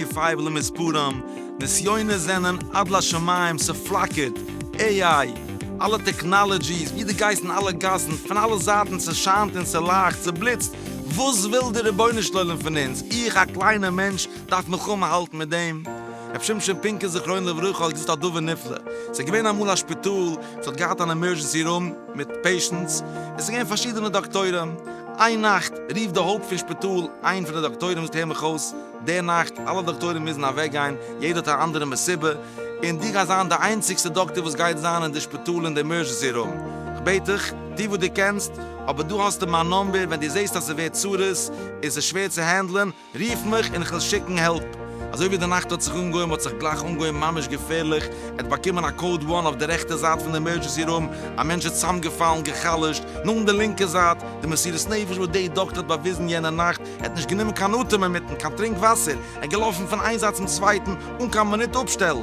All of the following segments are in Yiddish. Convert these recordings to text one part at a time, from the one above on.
תשפ א למספרם, נסיונות זענען עד לשמים, ס'פלאקערט, עי איי, אלע טעקנאלעדזשיס, ווי דו גייסט אין אלע גאסן, פון אלע זייטן ס'שיינט און ס'לייכט, ס'בליצט, וואס וויל די רבונו של עולם פון אונז, איך א קליינע מענטש, דארף מלחמה האלטן מיט דעם? רבי שמשון פינקער זכרונו לברכה האט געזאגט א דבר נפלא, עס איז געווען אמאל א שפיטאל וואס האט געהאט אן עמערזשענסי רום מיט פעישענטס, עס איז געווען פארשידענע דאקטוירים, איין נאכט רופט די הויפט פון שפיטאל איין פון די דאקטוירים זאגט הער מיך אויס, די נאכט אלע דאקטוירים מוזן אוועק גיין, יעדער האט א אנדערע מסיבה, און דו גייסט זיין די איינציגסטע דאקטאר וואס גייט זיין אין די שפיטאל אין די עמערזשענסי רום, איך בעט דיך, טו וואס דו קענסט, אבער דא האסטו מיין נאמבער, ווען דו זעסט אז ס'ווערט צרות און ס'איז שווער צו הענדלען, רוף מיך און כ'וועל שיקן העלפ. אזוי ווי די נאכט האט זיך אנגעהויבן האט זיך גלייך אנגעהויבן ממש געפערליך, ער האט באקומען א קאוד וואן אויף די רעכטע זייט פון די עמערדזשענסי רום, א מענטש איז צוזאמגעפאלן גע'חלש'ט, נאכן די לינקע זייט, די מסירות נפש וואס די דאקטער האט באוויזן יענע נאכט, ער האט נישט גענומען קיין אטעם אינמיטן, קיין טרינק וואסער, ער איז געלאפן פון איין זייט צום צווייטן אן קיין מינוט אפשטעל,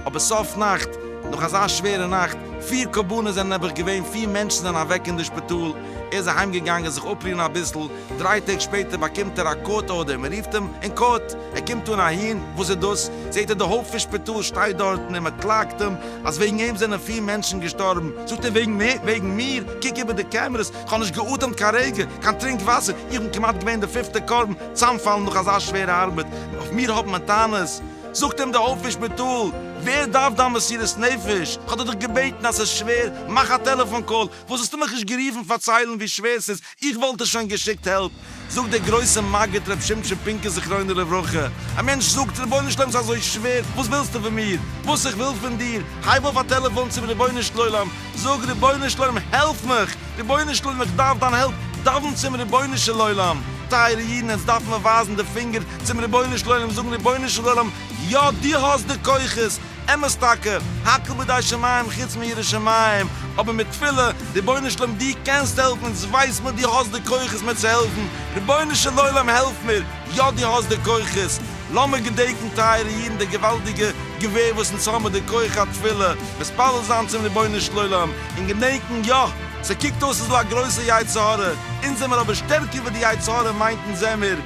אבער סוף נאכט, נאך אזא שווערע נאכט, פיר קרבנות זענען נעבעך געווען, פיר מענטשן זענען אוועק אין די שפיטאל, ער איז אהיימגעגאנגען זיך אפרוען אביסל, דריי טעג שפעטער באקומט ער א קאורט ארדער, מען רופט אים אין קאורט, ער קומט אן אהין, וואס איז דאס? זעט ער די הויפט פון שפיטאל שטייט דארטן און מען קלאגט אים אז וועגן אים זענען פיר מענטשן געשטארבן, זאגט ער וועגן מיר? וועגן מיר? קוק איבער די קעמערעס, איך האב נישט געאטעמט קיין רגע, קיין טרינק וואסער, איך בין כמעט געווען די פיפטע קרבן, צאמפאלן נאך אזא שווערע ארבעט, אויף מיר האט מען טענות? זאגט אים די הויפט פון שפיטאל, ווער דארף דיין מסירות נפש, איך האב דיר דאך געבעטן אז ס'איז שווער, מאך א טעלעפאן קאל, וואס האסטו מיך נישט גערופן פארציילן ווי שווער ס'איז, איך וואלט דיר שוין געשיקט העלפ, זאגט דער גרויסע מגיד ר' שמשון פינקער זכרונו לברכה, א מענטש זאגט, רבונו של עולם ס'איז אזוי שווער, וואס ווילסטו פון מיר, וואס איך וויל פון דיר, הייב אויף א טעלעפאן צום רבונו של עולם, זאג, רבונו של עולם העלף מיך, רבונו של עולם איך דארף דיין העלפ, דאווען צום רבונו של עולם, טייערע אידן עטס דארף מען ווייזן די פינגער צום רבונו של עולם, זאגן, רבונו של עולם יא דו האסט די כוחות, אמת טאקע, הכל בידי שמים חוץ מירא שמים, אבער מיט תפילה, רבונו של עולם דו קענסט העלפן אונז ווייס מיר דו האסט די כוחות מיר צו העלפן, רבונו של עולם העלף מיר, יא דו האסט די כוחות, לאמיר געדענקן טייערע אידן די געוואלדיגע געווער וואס אונז האבן מיט די כח התפילה, מתפלל זיין צום רבונו של עולם, און געדענקן יא, ס'קוקט אויס אזוי א גרויסע יצר הרע, אונז זעמיר אבער שטערקער ווי די יצר הרע מיינט אונז זעמיר,